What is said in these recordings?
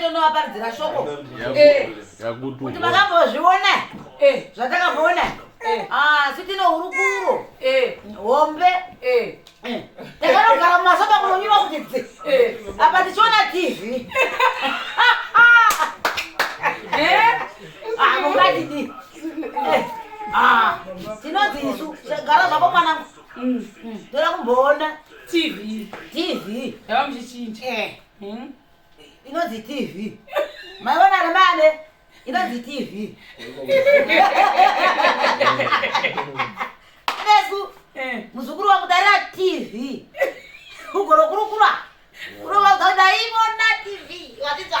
tonovaparidzira shoko eh. kuti vakambozviona eh, zvatakambona eh. ah, asi tine hurukuro hombe takanogara mumasoba kunonyima kuti dzi apa tichiona tv ah, mungatidi ah, tinodzi isu gara zvako mwanangu Mm, mm. Ndoda kumboona TV. TV. Yava muchichinja. Eh. Hmm? Inonzi TV. Maivona ari mane. Inonzi TV. Nesu eh. muzukuru wangu darira TV. Ugoro kurukura. Kurova kuti ndaivona TV. Watitwa.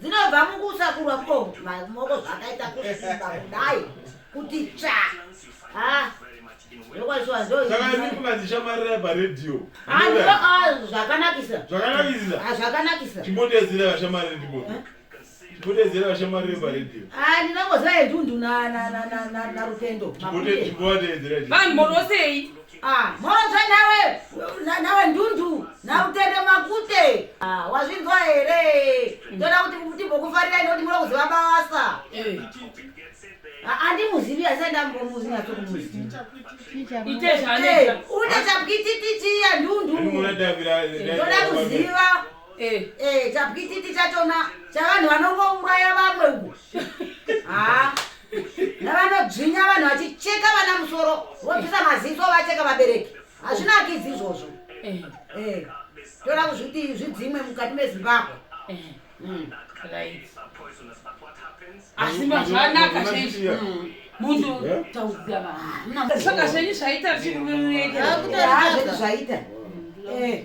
dzinobva mukusakurwa ko maoko zvakaita kusimba kudai kuti tsva ndinongoziva yendundu narutendo vanhu morosei Ah, mhozva nawe nawe ndundu nautende makute ah, wazvinzwa here mm. toda kuti timbokufarira ine kuti muda kuziva basa eh. ah, andimuzivi asi andambomuzi natsokumuzi une chapwititi chiya ndundu toda kuziva Eh. Eh, chapwititi chachona chavanhu vanongouraya vamwe uku haa navanodzvinya vanhu vachicheka vana musoro vobvisa maziso vacheka vabereki hazvinakidzi izvozvo Eh, Eh, toda kuzviti zvidzimwe mukati mezimbabwe eh, Mm. right. asi mazvanaka chaizvo Mm. munhu Eh? taudza vanhu saka zvenyu zvaita zvichiruverurekera Haa, zvedu zvaita Eh,